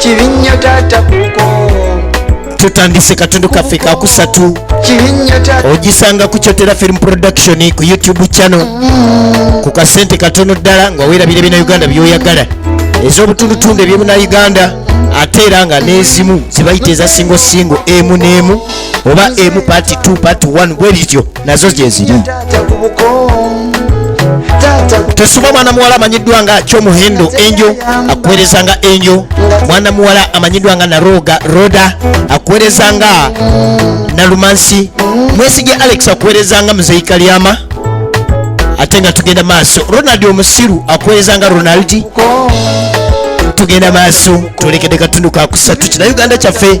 kibinnyo taata kuko tutandise katundu kaffe kakusatu ogisanga ku kyotera film production ku youtube channel mm. ku kasente katono ddala nga werabira ebina uganda byoyagala ez'obutundutundu ebyemuna uganda ate era nga n'ezimu zibayita eza singo singo emu n'emu oba emu part 2 part 1 bwe bityo nazo gyeziri tosubwa mwana muwala amanyiddwa nga kyomuhendo enjo akuweereza nga enjo mwana muwala amanyiddwa nga naroga roda akuweereza nga nalumansi mwesige alex akuweereza nga muzeyi kalyama ate nga tugenda maaso ronald omusiru akuweereza nga ronaldi tugenda maaso twolekede katundu kakusatu kina uganda kyaffe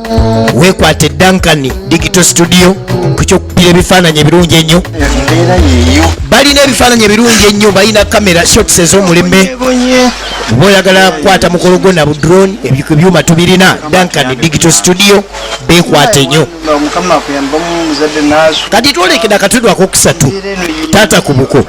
wekwate duncan digital studio ku kyokukira ebifaananyi ebirungi ennyo balina ebifaananyi ebirungi ennyo balina kamera shots ez'omulembe oba oyagala kukwata mukolo gwo na budrone ebyuma tubirina duncan digital studio bekwate nnyo kati twolekera akatudwa kokusatu taata ku buko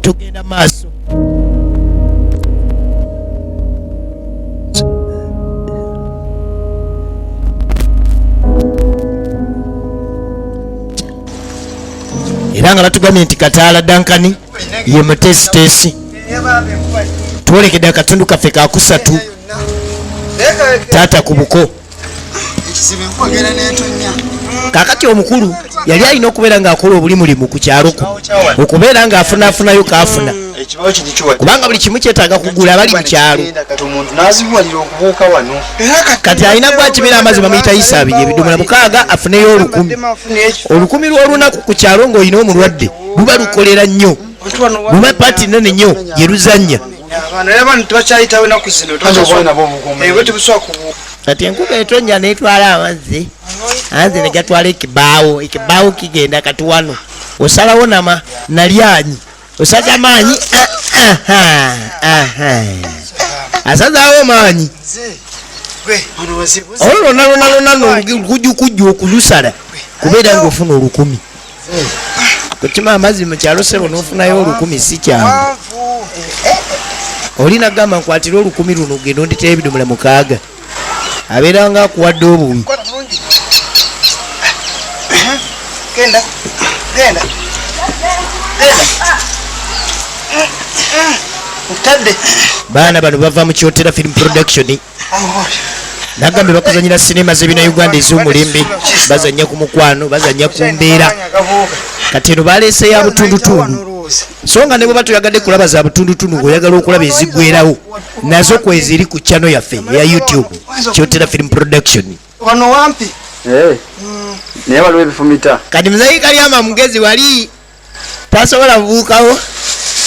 tugenda maaso era nga batugambye nti kataala dankani ye mutesitesi twolekede akatundu kaffe kakusatu taata ku buko kakati omukulu yali alina okubeera ng'akola obuli mulimu ku kyalo kuno okubeera ng'afunaafunayo kaafuna kubanga buli kimu kyetaaga kugula abali mu kyalo kati alina gwakimira amazzi bamuyita isaabi ebidomola mukaaga afuneyo olukumi olukumi lw'olunaku ku kyalo ng'olina omulwadde luba lukolera nnyo luba paati nene nnyo yeruzannya abaana era abantu tebakyayitawo enaku zino tebusobola kubuuka kati enkuba etonnya netwala amazzi anze negatwala ekibaawo ekibaawo kigenda kati wano osalawo nama nalyanyi osaza maanyi asazawo maanyi olwo lwonalwonalwona lukujukujju okulusala kubeera ngaofuna olukumi kukima amazzi mu kyalo sebo nofunayo olukumi si kyangu oli nagamba nkwatire olukumi luno genda onditera ebidomola mukaaga abeera nga akuwadde obuwi baana bano bava mu kyotera film production nagambe bakuzanyira sinema zebina uganda ezomulembe bazanya ku mukwano bazanya ku mbeera kati eno baleese ya butundutundu so nga nebweba tuyagadde kulaba za butundutundu ngaoyagala okulaba ezigwerawo nazo kweziri ku chano yaffe eya youtube kyotera film production eh, naye waliwo ebifumita kati muzayikalyama mugezi wali tasobola buukawo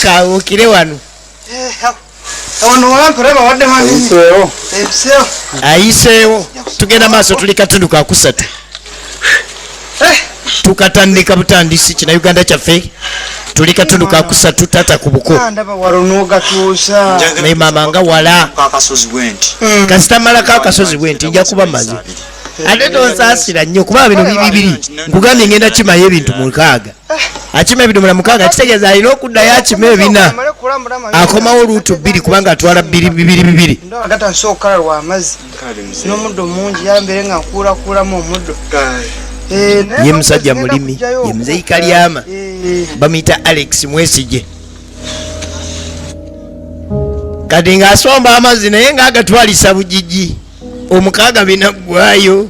kabuukire wano ayiseewo tugenda maaso tuli katundu kakusatu eh. tukatandika butandisi kina uganda kyaffe tuli katundu kakusatu tata ku buko ah, naye mama nga wala hmm. kasita malako akasozi bwenti nja kuba mazi ate tonsaasira nnyo kubanga bino biri bibiri nkugambye ngenda kimayo ebintu mukaaga akima ebidomola mukaaga kitegeeza alina okuddayo akima ebina akomawo luutu bbiri kubanga atwala bibiri bibiri bibiri agata nsobola okukala lwa amazzi n'omuddo mungi yambeere nga nkuulakuulamu omuddo eh, ye musajja mulimi ye muzeyi kalyama eh. bamuyita alex mwesigye kati ng'asomba amazzi naye ng'agatwalisa bugigi omukaaga binaggwayo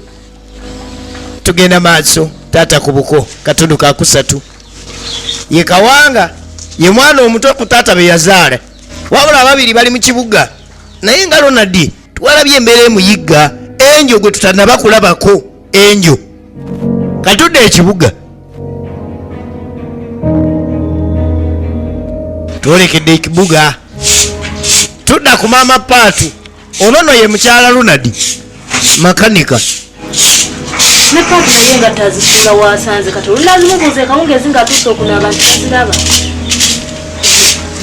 tugenda maaso taata ku buko katundu kakusatu ye kawanga ye mwana omuto ku taata be yazaala wabula ababiri bali mu kibuga naye nga lonadi twalabye embeera emuyigga enjo gwe tutanaba kulabako enjo katudde ekibuga twolekedde ekibuga tudda ku maama paatu ono no ye mukyala lunadi makanika ne paati naye nga tazisuula waasanze kati olunalimubuuza ekawungeezi nga atuuse okunaaba nti aziraba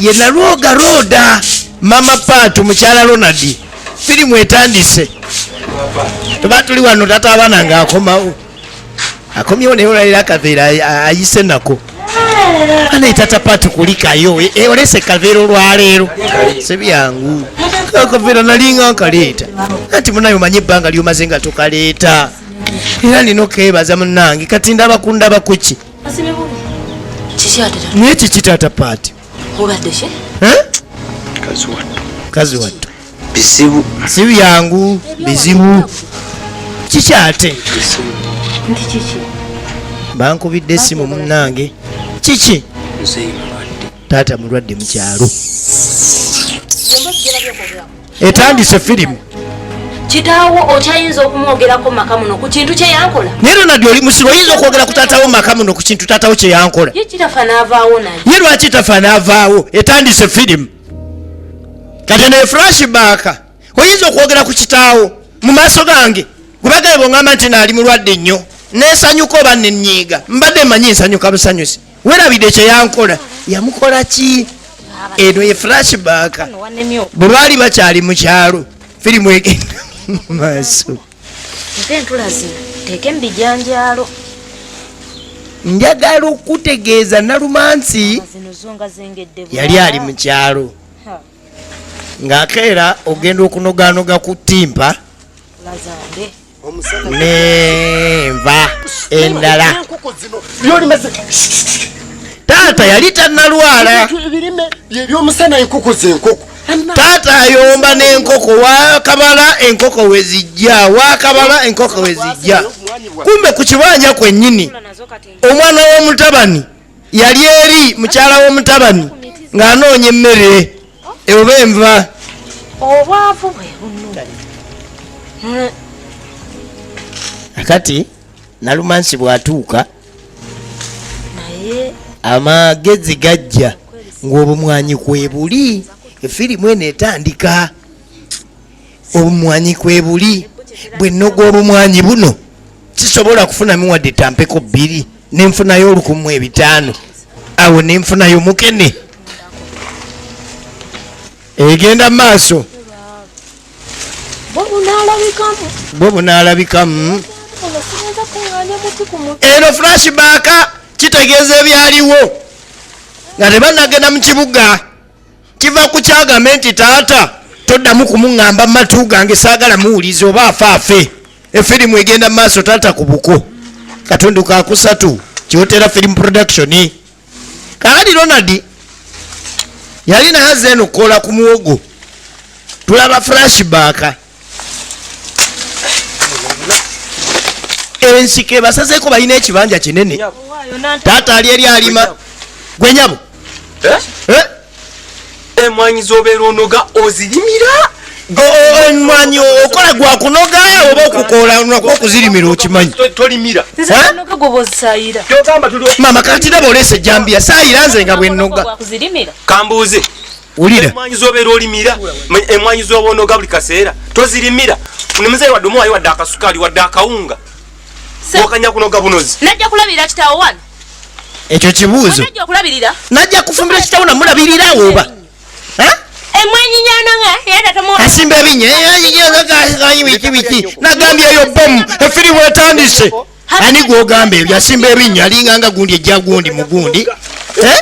ye nalwoga rooda mama paatu mukyala ronadi firimu etandise tuba tuli wano tata abaana ng'akomawo akomyewo naye olwaliro akaveera ayise nako anaye tata pati kulikayo olese kaveera olwaleero sibyangu akaveera nalinga nkaleeta anti munaye omanyi ebbanga lyomaze nga tukaleeta era nina okebaza munange kati ndabakundaba kuki naye kiki tata pati obaddeki eh? kazi wattu bizibu si byangu bizibu kiki ate bankubidde esimu munange kiki taata mulwadde mukyalo etandise firimu kitaawo okyayinza okumwogerako maka muno ku kintu kyeyankola naye ronald oli musiru oyinza okwogera ku taatawo maka muno ku kintu taatawo kyeyankola ye kitafa n'avaawo naye ye lwaki tafa n'avaawo etandise firimu kati naye flash baaka oyinza okwogera ku kitaawo mu maaso gange gwebagaye bongamba nti naali mulwadde nnyo nesanyuka oba nenyiiga mbadde manyi nsanyuka busanyusi werabidde kyeyankola yamukola ki eno ye flashback bwe baali bakyali mu kyalo firimu egenda maaso njagala okutegeeza nalumansi yali ali mu kyalo ng'akeera ogenda okunoganoga ku ttimpa nenva endala taata yali tanalwala ebyomusana enkoko zenkoko taata ayomba n'enkoko wakabala enkoko wezijja wakabala enkoko wezijja kumbe ku kibanja kwennyini omwana w'omutabani yali eri mukyala w'omutabani ng'anoonya emmere oba enva obwavu bwe kati nalumansi bwatuuka amagezi gajja ng'obumwanyi kwebuli efirimu eno etandika obumwanyi kwebuli bwe nnoga obumwanyi buno sisobola kufunamu wadde tampeko bbiri nenfunayo olukumu ebitaano awo nenfunayo mukene egenda mu maaso bwo bunaalabikamu eno flash baaka kitegeeza ebyaliwo nga tebanagenda mu kibuga kiva ku kyagambe nti taata toddamu kumuŋŋamba matu gange saagala muwuliza oba afe afe efirimu egenda mu maaso taata ku buko katundu kakusatu kiwotera firimu production kaali ronald yali nayaze eno kukola ku muwogo tulaba flashback ensiko ebasazeeko balina ekibanja kinene taata ali eri alima gwe nyabo eh? Eh? emwanyi zobeera onoga ozirimira emwanyi okola gwa kunoga oba okukolanako okuzirimira okimanyi mama katiraba oleesa ejambiya sayira nze nga bwenoga kambuuze ulira emwanyi zobera olimira emwanyi zobono gabli kasera tozirimira ne mzee wa domo ayo wadaka sukali wadaka unga wakanya kuno gabunozi najja kulabira kitawo wan ekyo kibuzo najja kulabirira najja kufumbira kitawo na mulabirira oba ha emwanyi nyana nga yada tomo asimbe binye yayi yayi yayi wiki wiki nagambye yo bom efiri wetandise ani gwogamba ebyo asimba ebinnya alinga nga gundi ejja gundi mu gundi eh?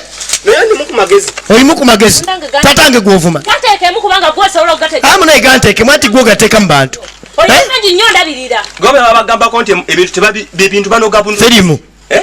olimu ku magezi tatange gwovuma amunaegantekemu anti gwogateeka mu bantu eh? gobebabagambako nti ebintu tebabibintu banogabuno terimu eh?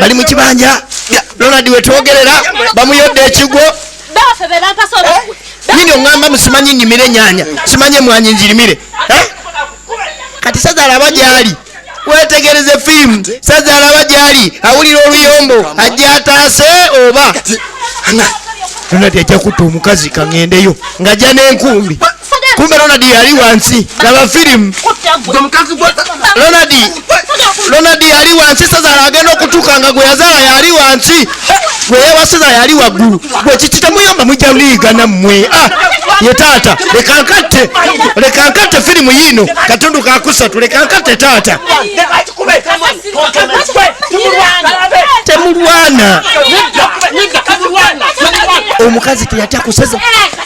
bali mu kibanja ronald wetwogerera bamuyodde ekigwo nyini eh? oŋamba musimanyi nnimire enyanya simanyi emwanyi njirimire eh? kati sazalaba gyali wetegereze fiimu sazalaba gyali awulira oluyombo ajja ataase oba ronald ajja kutta omukazi kaŋendeyo ngajja n'enkumbi kumbe Ronald yali wansi laba firimu Ronald Ronald yali wansi Sezara agenda okutuuka nga gwe yazaala yali wansi gwe yewa Sezara yali waggulu gwe kiki temuyamba mujja liigana mmwe ah, ye taata leka nkatte leka nkatte firimu yiino katundu kakusatu leka nkatte taata temulwana omukazi teyatya kuseza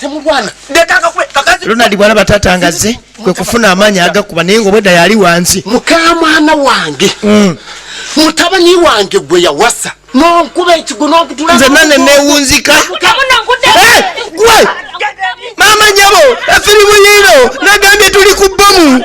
temulwana ronald bwana batata ngazze kwe kufuna amaanyi agakuba naye ngaobwedda yali wansi mukamwana wange mm. mutabani wange gwe yawasa nonkuba ekigo nonkutula nze nane newunzika mama nyabo efirimu yiino nagambye tuli ku bbomu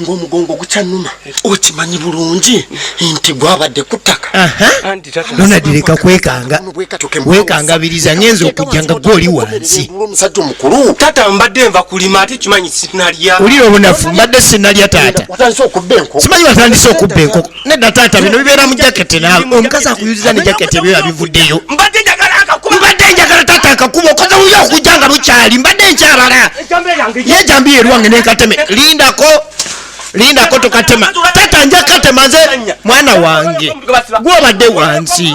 ng'omugongo gukyannuma okimanyi bulungi nti gwabadde ku ttaka donald leka kwekanga wekangabiriza ngenza okujja nga gwe oli wansi omusajja omukulu taata mbadde nva kulima ate kimanyi sinalya olira obunafu mbadde sinalya taata simanyi watandise okubba enkoko nedda taata bino bibeera mu jaketi nawe omukazi akuyuziza ne jaketi ebyo yabivuddeyo mbadde njagala akakuba mbadde njagala taata akakuba okoze wuyo okujja nga bukyali mbadde nkyabala yejambiya erwange nenkateme lindako lindako tukatema taata nja katema nze mwana wange gwobadde wansi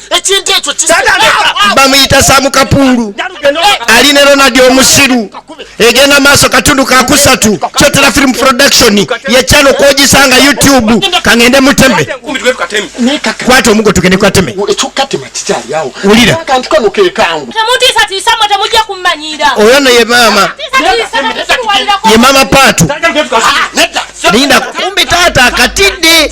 ekintu ekyo bamuyita samu kapuulu ali ne ronald omusiru egenda maaso katundu kakusatu kyotera film production yekyalo kwogisanga youtube kangende muteme kwata omugo tugende kwateme wulira oyo no ye maama ye maama paatu linda kumbi taata akatidde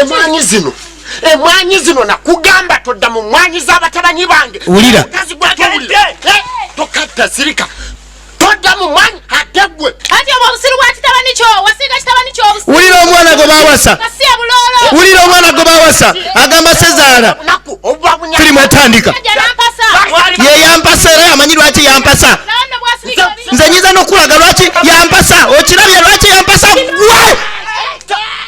emwanyi zino emwanyi zino nakugamba todda mu mwanyi z'abatabanyi bange wulira tokatta sirika todda mu mwanyi ate gwe ati obwo obusiru bwa kitabani kyo wasiiga kitabani kyo wulira omwana gwe bawasa wulira omwana gwe bawasa agamba sezaala firimu etandika ye yampasa era yamanyi lwaki yampasa nze nyiza nokulaga lwaki yampasa okirabye lwaki yampasa gwe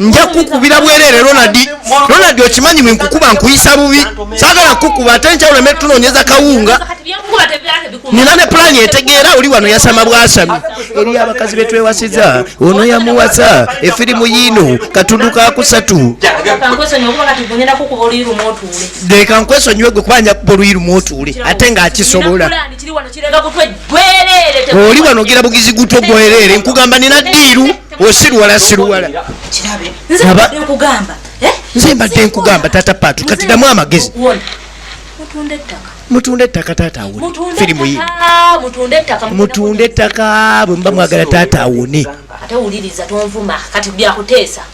nja kukubira bwerere ronald ronald okimanyi wenkukuba nkuyisa bubi sagala kukuba ate nkyawuleme tunonyeza kawunga nina ne pulani etegeera oli wano yasama bwasami eri abakazi betwewasiza ono yamuwasa efirimu yiino katundu kakusatu leka nkwesonyiwe gwe kubanja kuba oluyi lumu otuule ate ngaakisobola oli wano ogira bugizi gutwo gwerere nkugamba nina diiru osiruwala siruwala eh? nze mbadde nkugamba tata patu kati damu amagezi mutunde ettaka taata awone firimu yi mutunde ettaka bwe muba mwagala taata awone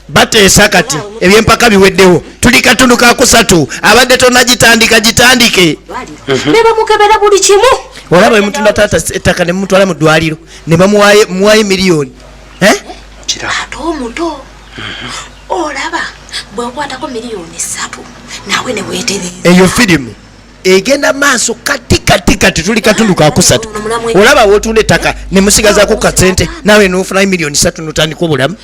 bateesa kati ebyempaka biweddewo tuli katundu kakusatu abadde tonagitandika gitandike mhm. nebamukebera buli kimu olaba emutunda taata ettaka nemutwala mu ddwaliro nebamuwayo miliyoni eh? ate omuto olaba bwekwatako miliyoni satu nawe newetereza eyo firimu egenda maaso kati kati kati tuli katundu kakusatu olaba wotunda ettaka nemusigazako kasente nawe nofunayo miliyoni satu notandika obulamu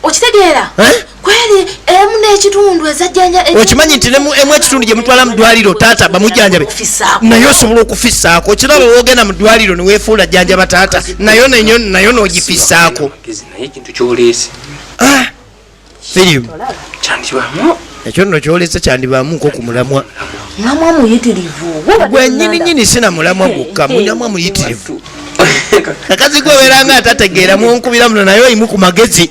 okitegeera eh? kweli emu n'ekitundu ezajjanja okimanyi nti emu ekitundu gye mutwala mu ddwaliro taata bamujjanjabe naye osobola okufisaako kiraba woogenda mu ddwaliro ne weefuula jjanjaba taata nayo nenyo nayo n'ogifisaako ah, firimu ekyo nno kyolese kyandibaamu nko ku mulamwa mulamwa muyitirivu gwenyini nyini sina mulamwa gwokka mulamwa muyitirivu kakazi gwe obeera nga atategeera munkubira muno naye oyimu ku magezi